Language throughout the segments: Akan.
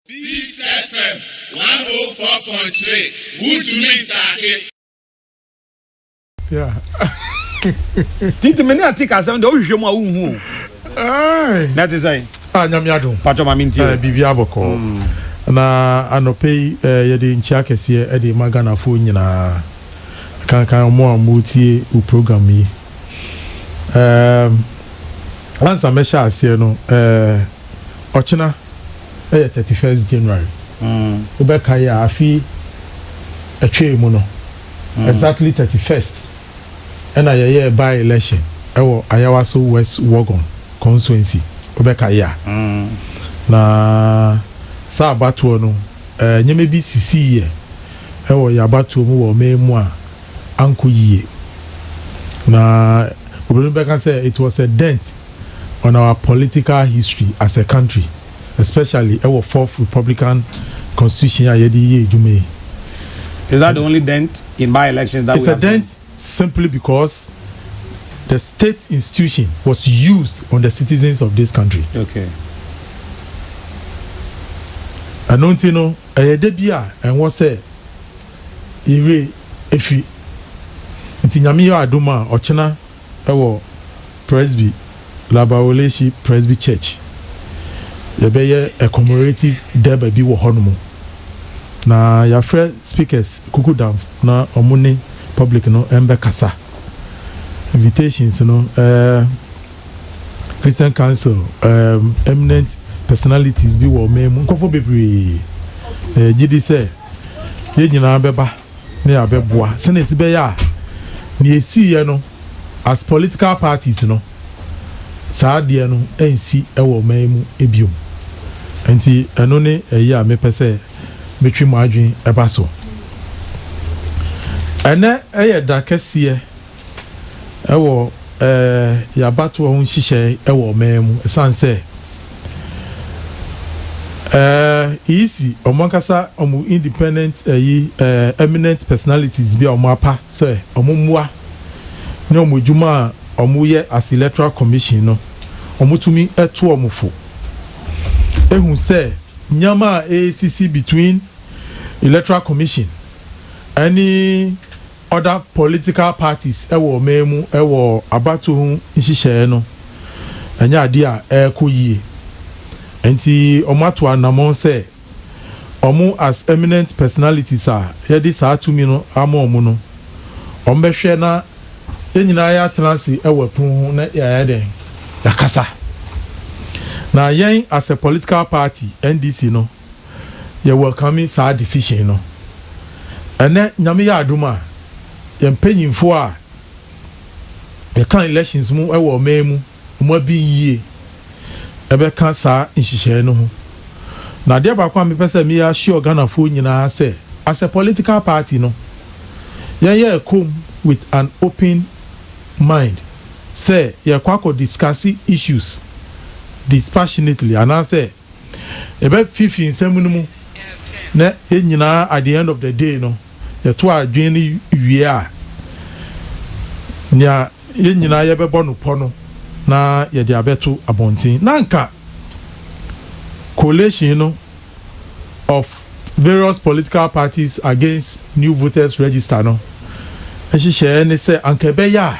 Peace FM one oh four point three wotumi ntaake. titi mene ati kasɛm deɛ wohwehwɛ mu a wonhu o na te sɛ ah, nyame adom patɔ ma mentio eh, biribi abɔkɔ mm. na anɔpɛ yi eh, yɛde nkyia kɛseɛ de ma ghanafoɔ nyinaa kankan ɔmo a motie wo program yi ansa mɛhyɛ aseɛ no eh, Ɔkyena yɛ thirty first January. Wobɛkae a afe yi ɛtwee mu no, exactly thirty first na yɛyɛɛ by election wɔ Ayawaso West Wuogon constituency, wobɛkae a. Na saa abatoɔ no, nneɛma bi sisiiɛ wɔ yɛn abatoɔ mu wɔ ɔman mu a ankɔ yie. Na obinom bɛka sɛ it was a dent. on our political history as a country especially ɛwɔ fourth republican constitution a yɛde yɛ adwuma yi. Is that the only dent in by elections that we have seen? It's a dent simply because the state institution was used on the citizens of this country. Okay. Ɛno nti no ɛyɛ de bi a ɛnwɔ sɛ yɛwie efi nti nyame yɛ adum a ɔkyena wɔ Presby, La Baoleshi Presby Church. Yɛbɛyɛ a commemorative Durbar bi wɔ hɔnom. Na yɛafrɛ speakers kuku down na wɔn ne public no mbɛkasa. Invitations no eh, Christian Council, eh, eminent personalities bi wɔ ɔman mu, nkorɔfoɔ bebree. Na yɛgye di sɛ yɛn nyinaa bɛba. ne abɛboa sɛnea ɛsi bɛyɛ a nea ɛsiiɛ no as political parties no saa adeɛ no ɛnsi wɔ ɔman yi mu bio. Nti ɛno ne ɛyi a mepɛ sɛ metwe mo adwene ɛba so. Ɛnɛ ɛyɛ da kɛseɛ. wɔ yɛn abatoɔ ho nhyehyɛe wɔ ɔman mu ɛsiane sɛ EEC, wɔn ankasa wɔn independent ɛyi eminent personalities bi a wɔn apa sɛ wɔn mmoa ne wɔn adwuma a wɔyɛ as electoral commission no, wɔtumi to wɔn fo ehu sɛ nneɛma a ɛresisi between electoral commission ɛne other political parties wɔ ɔman mu wɔ abatoɔ ho nhyehyɛeɛ no nyɛ adeɛ a ɛrekɔ yie. Nti wɔn ato anamɔn sɛ wɔn as eminent personalities a yɛde saa tumi no ama wɔn no, wɔn bɛhwɛ na yɛn nyinaa yɛatena ase wɔ ɛpono ho na yɛayɛ dɛn? Yɛakasa. Na yɛn as a political party, NDC no, yɛ welcome saa decision no. Ɛnɛ Nyame yɛ adom a, yɛn mpanyinfoɔ a yɛka elections mu wɔ ɔman mu, wɔn abin yie ɛbɛka saa nhyehyɛɛ no ho. Na adeɛ baako a mepɛ sɛ me assure Ghanafoɔ nyinaa sɛ, as a political party no, yɛn yɛ ɛkɔm with an open mind sɛ yɛrekɔ akɔ discuss issues dispassionately anaasɛ, Yɛbɛfifi nsɛm no mu na yɛn nyinaa at the end of the day no yɛto adwene no wie a, nea yɛn nyinaa yɛbɛbɔ no pɔ no na yɛde abɛto abɔnten. Na anka coalition no of various political parties against new voters register no nhyehyɛɛ ne sɛ anka ɛbɛyɛ a,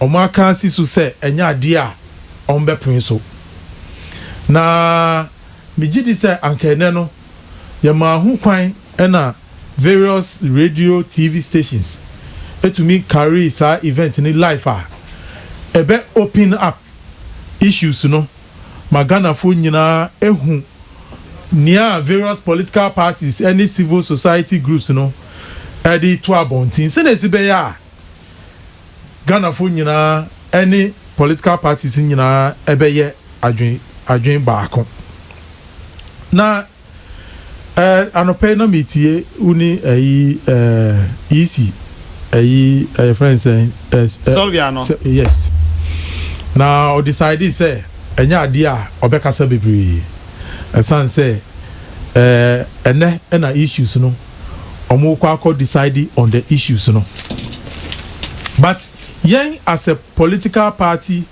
wɔaka asi so sɛ ɛnyɛ adeɛ a wɔbɛpene so. Na megye di sɛ anka ɛnnɛ no yɛmaa ho kwan na various radio TV stations tumi carry saa event no live a, ɛbɛ open up issues no ma Ghanafoɔ nyinaa ahu nea various political parties ne civil society groups no de reto abɔnten sɛdeɛ ɛsi bɛyɛ a, Ghanafoɔ nyinaa ɛne political parties nyinaa ɛbɛyɛ adwen adwen baako. Na ɛɛ anɔpa yi na meetie wo ne ɛyi ɛɛ Yisi ɛyi ɛyɛ fɛn sɛn ɛs ɛ Sylvia no. sɛ yes na ɔdecide sɛ ɛnyɛ adeɛ a ɔbɛkasa bebree ɛsan sɛ ɛɛ ɛnɛ ɛna issues no ɔmo kɔ akɔ decide on the issues no but yɛn as a political party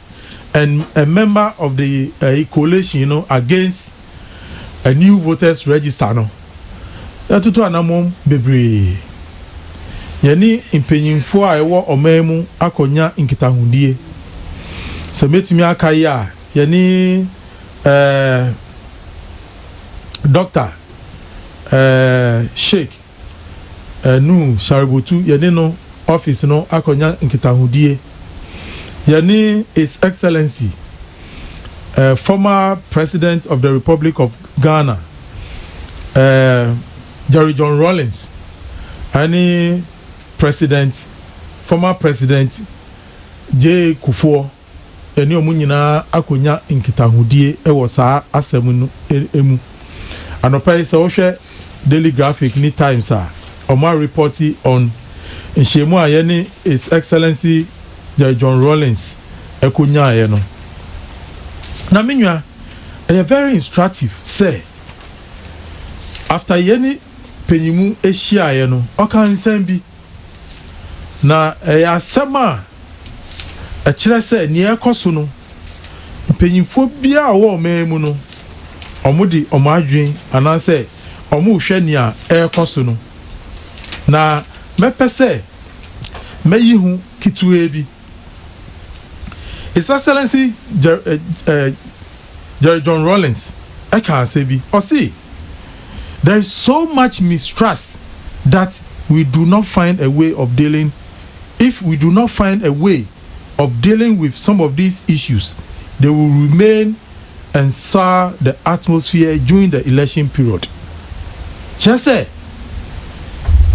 and a member of the ɛyi coalition no against a new voters register no yɛtoto anamɔn bebree yɛne mpanyinfoɔ a ɛwɔ ɔman mu akɔ nya nkitahodie sɛ mɛtumi aka yi a yɛne ɛɛ doctor Ɛɛ Sheik ɛɛ Nuhu Shaributu yɛne no office no akɔnya nkitahodie. Yɛne His Excellency ɛɛ former President of the Republic of Ghana ɛɛ Jerry John Rawlings ɛne President former President Jay Kufuor. ɛne wɔn nyinaa akɔnya nkitahodie wɔ saa asɛm no mu. Anɔpa yi sɛ wohwɛ Daily Graphic ne Times a, wɔn a repɔte on nhyiamu a yɛne His Excellency Jerry John Rawlings kɔnyaaeɛ no. Na me nua, ɛyɛ very instructive sɛ after yɛne panyin mu hyiaeɛ no, ɔkaa nsɛm bi. Na ɛyɛ asɛm a. Ɛkyerɛ sɛ nea ɛrekɔ so no, mpanyimfoɔ biara a wɔwɔ ɔman mu no, wɔde wɔn adwene anaasɛ wɔrehwɛ nea ɛrekɔ so no. Na mɛpɛ sɛ mɛyi ho ketewaa bi. His Excellency Jerry John Rawlings ɛkaa asɛm bi, ɔse, There is so much mistrust that we do not find a way of dealing if we do not find a way of dealing with some of these issues, they will remain and sour the atmosphere during the election period. Kyerɛ sɛ,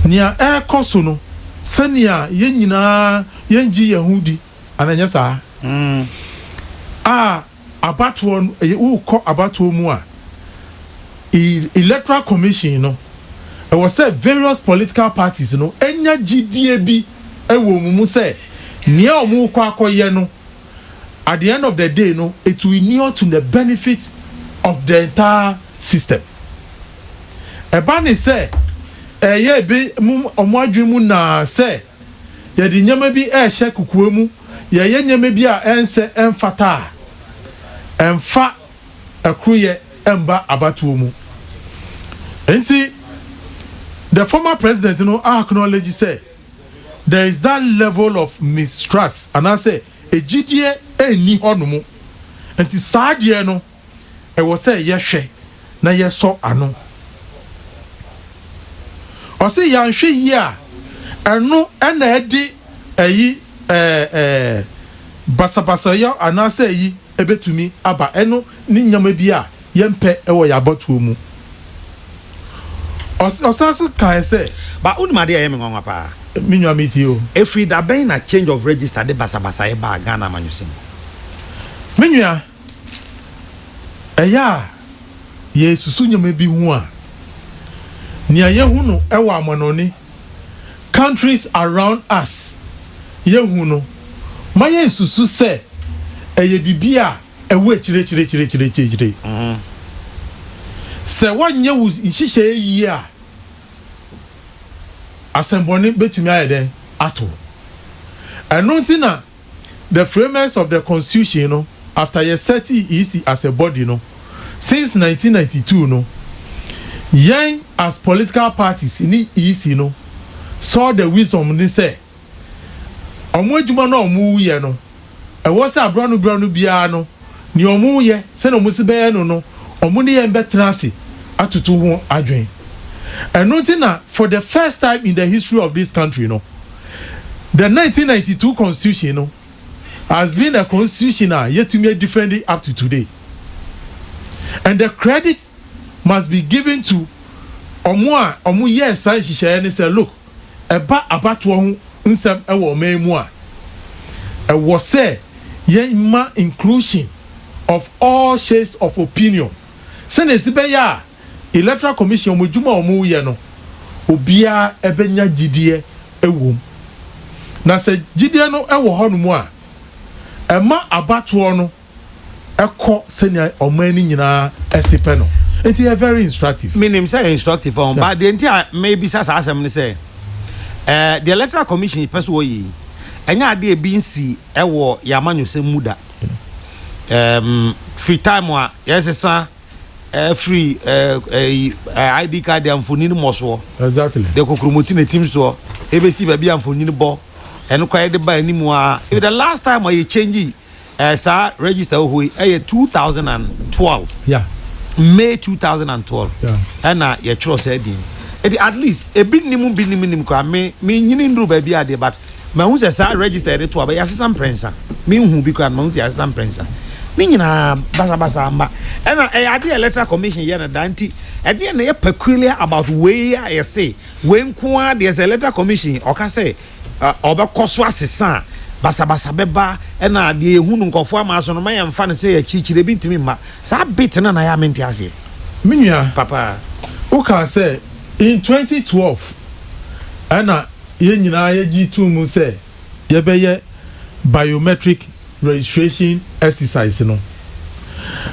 nea ɛrekɔ so no, sɛnea yɛn nyinaa yɛn gye yɛn ho di, anaa ɛnyɛ saa? a, Abatoɔ no ɛyɛ wokɔ abatoɔ mu a electoral commission no ɛwɔ sɛ various political parties no nya gyidie bi wɔ wɔn mu sɛ nea wɔn rekɔ akɔyɛ no at the end of the day no it will inure to the benefit of the entire system ɛba ne sɛ ɛyɛ ebi mo wɔn adwene mu naa sɛ yɛde nneɛma bi rehyɛ kokoa mu, yɛyɛ nneɛma bi a ɛnsɛ, ɛmfata a, ɛmfa ɛkoroyɛ mba abatoɔ mu. Nti, the former president no acknowledge sɛ there is that level of mistrust, anaasɛ gyidie nni hɔ nom. Nti saa deɛ no. Ɛwɔ sɛ yɛhwɛ na yɛsɔ ano. Ɔse yanhwɛ yie a ɛno na ɛde ayi ɛɛ basabasayɔ anaasɛ ayi ɛbɛtumi aba. Ɛno ne nneɛma bi a yɛmpɛ wɔ yɛn abatoɔ mu. Ɔs ɔsan nso kaeɛ sɛ. Ba wonim adeɛ a ɛyɛ me nwanwa paa? Me nua me tie o. Ɛfiri da bɛn na change of register de basabasayɛ baa Ghana amanyɔsɛm mu? Me nua. Ɛyɛ a yɛresusu nneɛma bi ho a, nea yehu no wɔ amanɔnne, countries around us, yehu no ma yesusu sɛ ɛyɛ biribi a ɛwɔ akyiriakyiriakyiriakyiriakyiri. Sɛ woanyɛ wo nhyehyɛe yiye a, asɛmmɔne betumi ayɛ dɛn ato wo? Ɛno nti na The framers of the constitution no after yɛ setee EC as a body no since nineteen ninety two no yɛn as political parties ne EC no saw the wisdom ne sɛ ɔmo adwuma no a ɔmo yɛ no ɛwɔ sɛ abira no bira no biara no nea ɔmo yɛ sɛnea ɔmo se bɛyɛ no no ɔmo ne yɛn bɛtena ase atoto ho adwen ɛno nti na for the first time in the history of this country no The nineteen ninety two constitution no has been a constitution a yɛtumi adifɛndi up to today and the credit must be given to wɔn a wɔyɛɛ saa nhyehyɛeɛ no sɛ look, ɛba abatoɔ ho nsɛm wɔ ɔman yi mu a, ɛwɔ sɛ yɛma inclusion of all shades of opinion sɛdeɛ ɛsi bɛyɛ a, Electoral Commission wɔn adwuma a wɔn reyɛ no obiara bɛnya gyideɛ wɔ mu. Na sɛ gyideɛ no wɔ hɔ nom a, ɛma abatoɔ no kɔ sɛnea ɔman no nyinaa se pɛ no. Nti ɛyɛ very instructive. Me nim sɛ ɛyɛ instructive ɔho, but deɛ nti a me bisa saa asɛm ne sɛ, eh, deɛ Electoral Commission pɛ sɛ wɔyɛ yi, ɛnyɛ adeɛ a ebi nsi wɔ yɛn amanyɔsɛm mu da. Ehm, firi time a yɛsesa. Ɛfiri ɛɛ ID card a mfonini mmɔ soɔ. Exactly. De kokromoti na etim soɔ. Ebesi baabi a mfonini bɔ. Ɛno koraa yɛde ba anim a. Even the last time a yɛ change ɛɛ saa register wɔ hɔ yi ɛyɛ two thousand and twelve. Yeah. May two thousand and twelve. Yeah. Ɛna yɛtwerɛ saa din. Eti at least ebi nim bi nim nim koraa me me nyini nduru baabi adeɛ but. Mahu sɛ saa register yɛde to aba yi asesa mprɛnsa. Menhuu bi koraa no mahu sɛ yɛasesa mprɛnsa. Ne nyinaa basabasa mma. Ɛna ɛyɛ adeɛ a Electoral Commission yɛ no daa nti ɛdeɛn na ɛyɛ peculiar about wei a yɛse wei nko ara deɛ sɛ Electoral Commission ɔka sɛ ɔbɛkɔ so asesa a basabasa bɛba ɛna deɛ yɛhu no nkurɔfoɔ ama so no ma yɛmfa no sɛ akyirikyiri ebi ntumi mma. Saa bit no na ɛyɛ a mente aseɛ. Me nua, Papa. wokaa sɛ in twenty twelve ɛna yɛn nyinaa yɛgye too mu sɛ yɛbɛyɛ biometric registration exercise no.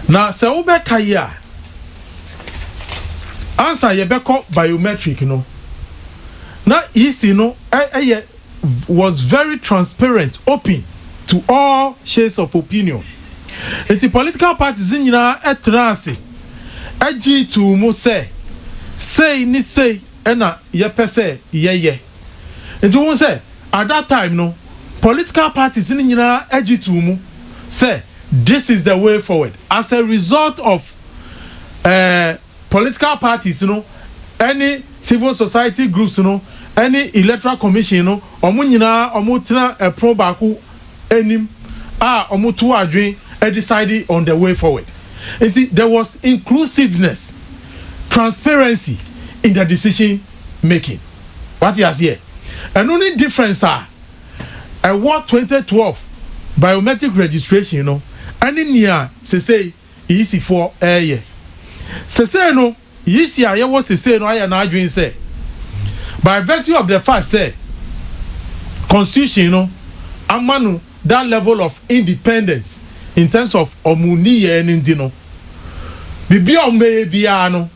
Na sɛ wobɛka yi a, ansa yɛbɛkɔ biometric no, na EC no yɛ was very transparent, open to all shades of opinion. Nti political parties nyinaa traa ase gye too mu sɛ sei ne sei. na yɛpɛ sɛ yɛyɛ nti wohu sɛ at that time no political parties no nyinaa agye too mu sɛ this is the way forward as a result of eh political parties no ɛne civil society groups no ɛne electoral commission no ɔmo nyinaa ɔmo tena ɛpono baako anim a wɔtow adwene decide on the way forward nti there was inclusiveness, transparency in the decision making wate aseɛ ɛno ne difference a ɛwɔ twenty twelve biometric registration no ɛne nea sesei EC foɔ ɛɛyɛ sesei no. Yisi a yɛwɔ sesei no ayɛ n'adwene sɛ, by virtue of the fact sɛ Constitution no ama no that level of independence in terms of wɔn nniyɛɛ no nti no, biribi a wɔbɛyɛ biara no,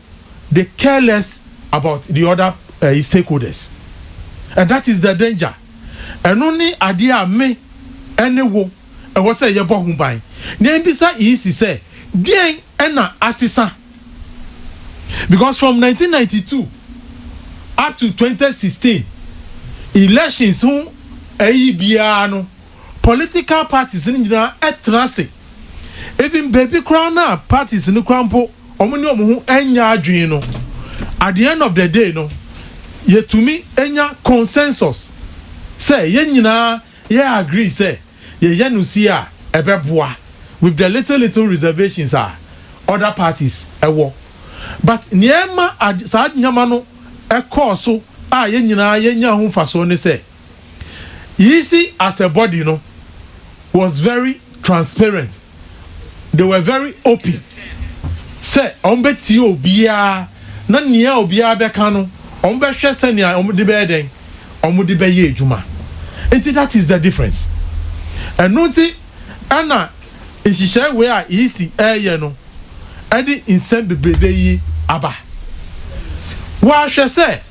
they care less about the other ɛyi stakeholders. And that is the danger. Ɛno ne adeɛ a me ne wo ɛwɔ sɛ yɛbɔ ho ban, na yɛmmisa Yisi sɛ, deɛn na asesa? because from nineteen ninety two up to twenty sixteen elections ho ɛyi biara no political parties no nyinaa ɛtena ase even baabi koraa no a parties no koraa mpo wɔn ne wɔn ho ɛnyɛ adwene no at the end of the day no yɛtumi ɛnya consensus sɛ yɛn nyinaa yɛ agree sɛ yɛyɛ no sie a ɛbɛboa with the little little reservations a other parties wɔ but nea ɛma ade saa nneɛma no kɔɔ so a yɛn nyinaa yɛnyaa ho mfasoɔ ne sɛ yisi as a body no was very transparent. they were very open sɛ wɔbɛtie obiara na nea obiara bɛka no wɔbɛhwɛ sɛnea wɔde bɛyɛ dɛn wɔde bɛyɛ adwuma nti that is the difference ɛno nti ɛna nhyehyɛe wei a EC ɛreyɛ no ɛde nsɛm bebrebe yi aba wɔahwɛ sɛ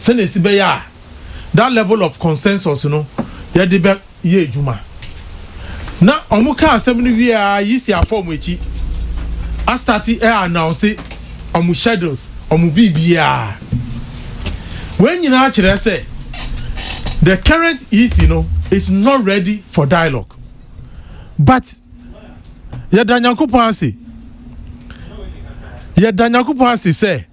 sɛnea esi bɛyɛ a that level of consensus no yɛde bɛ yɛ adwuma. Na wɔn kaa asɛm no wie a Yisi afɔ wɔn akyi a start ɛ announce wɔn schedules, wɔn biribiara. Wei nyinaa kyerɛ sɛ the current Yisi no is not ready for dialogue. But yɛda Nyankopɔn ase, yɛda Nyankopɔn ase sɛ.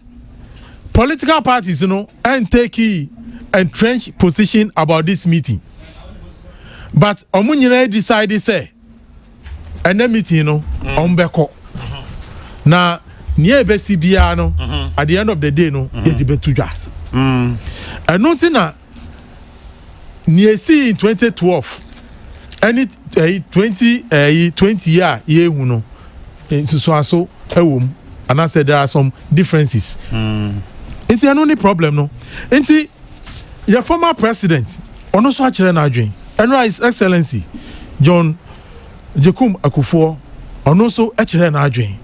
political parties no ntake entrenched position about this meeting but wɔn nyinaa decide sɛ ɛnɛ meeting no mm. wɔn bɛkɔ na nea ebesi biara no mm-hmm. at the end of the day no mm-hmm. yɛde bɛtu dwa mm. ɛno nti na. nea esii in twenty twelve ɛne ɛyi twenty ɛyi twenty yi a yɛrehu no nsusuaso ɛwɔ mu anaasɛ there are some differences mm. nti ɛno ne problem no nti yɛ former president ɔno nso akyerɛ n'adwen ɛnora his excellency john jekum akufoɔ ɔno nso kyerɛ n'adwen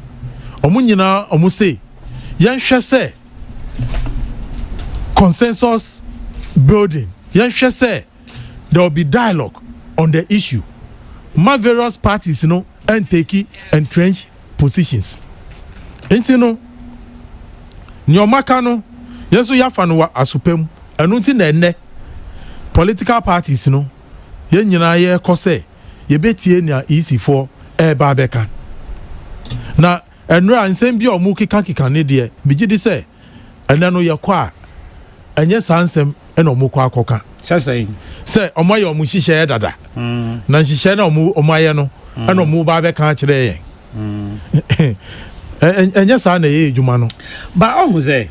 wɔn nyinaa wɔn se yɛnhwɛ sɛ. consensus building, yɛnhwɛ sɛ there will be dialogue on the issue. Ma various parties no ntake entrenched positions. Nti no, nea ɔmaka no, yɛn nso yɛafa no wɔ asopa mu. Ɛno nti na ɛnnɛ political parties no, yɛn nyinaa yɛrekɔ sɛ yɛbɛtie nea EC foɔ ɛreba abɛka. Na Ɛnnora a nsɛm bi a ɔmo keka keka no deɛ me gye di sɛ ɛnɛ no yɛ kɔ a ɛnyɛ saa nsɛm na ɔmo kɔ akɔ ka. Sɛ sɛn? Sɛ ɔmo ayɛ ɔmo nhyehyɛɛ dada na nhyehyɛɛ no a ɔmo ɔmo ayɛ no ɛna ɔmo ba abɛka akyerɛ yɛn. Ɛ ɛnyɛ saa na ɛyɛ adwuma no. Ba ɔho sɛ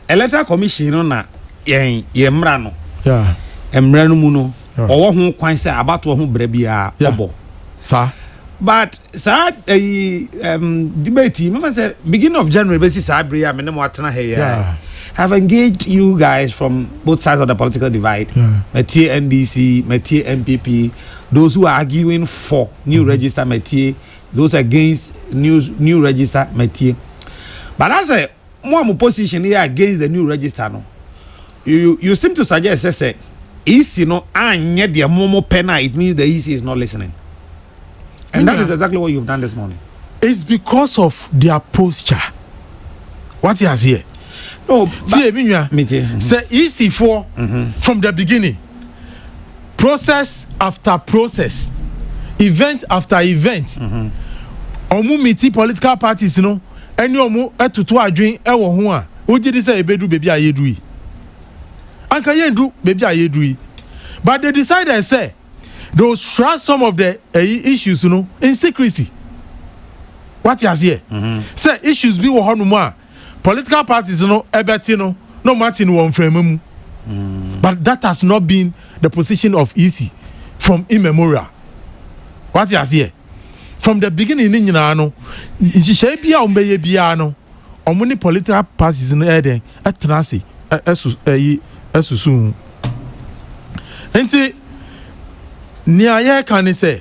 electoral commission no na yɛn yɛn mmra no yeah. mmra no mu no. ɔwɔ ho kwan sɛ abatoɔ ho brɛ biara ɔbɔ saa but saa ɛyi um, debate yi mama sɛ beginning of January bɛsi saa bere yi a me ne mo atena ha yi have engaged you guys from both sides of the political divide matie yeah. NDC matie NPP those who are arguing for new mm-hmm. register matie those against new new register matie but I say mo a mo position yɛ against the new register no you you seem to suggest sɛ sɛ EC no anyɛ deɛ mo mo pɛ na it means the EC is not listening and that is exactly what you have done this morning. It's because of their posture What wati aseɛ. no tie mi nwa sɛ EC foɔ mm-hmm. from the beginning. process after process, event after event, wɔn miti political parties no ne wɔn toto adwen wɔ ho a, wogye di sɛ ebedu baabi a yɛadu yi? Anka yɛndu baabi a yɛadu yi. But they decided sɛ they will shroud some of the ɛyi issues no in secrecy. Wate aseɛ? Sɛ issues bi wɔ hɔnom a, political parties no ɛbɛte no na wɔn ate no wɔ mframa mu but that has not been the position of EC from immemorial wate aseɛ from the beginning ne nyinaa no nhyehyɛe bi a wɔn bɛyɛ biara no wɔn ne political parties no ɛyɛ dɛn ɛtena ase ɛso ɛyi ɛsoso ho nti nea yɛreka ne sɛ.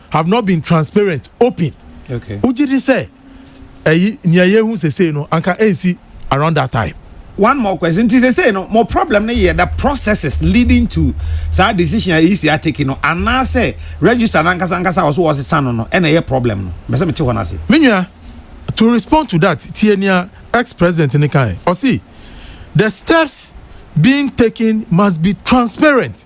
have not been transparent, open. Okay. Wogye di sɛ ɛyi nea yɛhu sesei no anka ɛnsi around that time? One more question. Nti sesei no mo problem no yɛ the processes leading to saa decision a ɛyi si ateki no anaasɛ register no ankasa ankasa a ɔso wɔsesa no no ɛna ɛyɛ problem no? Mbɛsɛ mete hɔ no ase. Me nua, to respond to that, tie nea ex-president no kae. Ɔse, the steps being taken must be transparent.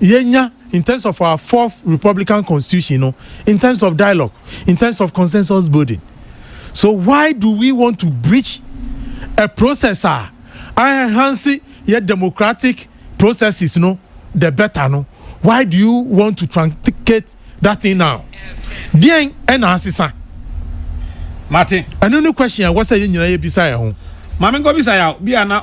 yɛnya in terms of our fourth republican constitution no in terms of dialogue in terms of consensus building so why do we want to breach a process a enhance yɛ democratic processes no the better no why do you want to truncate that thing now deɛn ɛna asesa mate ɛno ne question a ɛwɔ sɛ yɛ nyinaa yɛbisa yɛ ho maame nkɔbisa yɛ a bi a na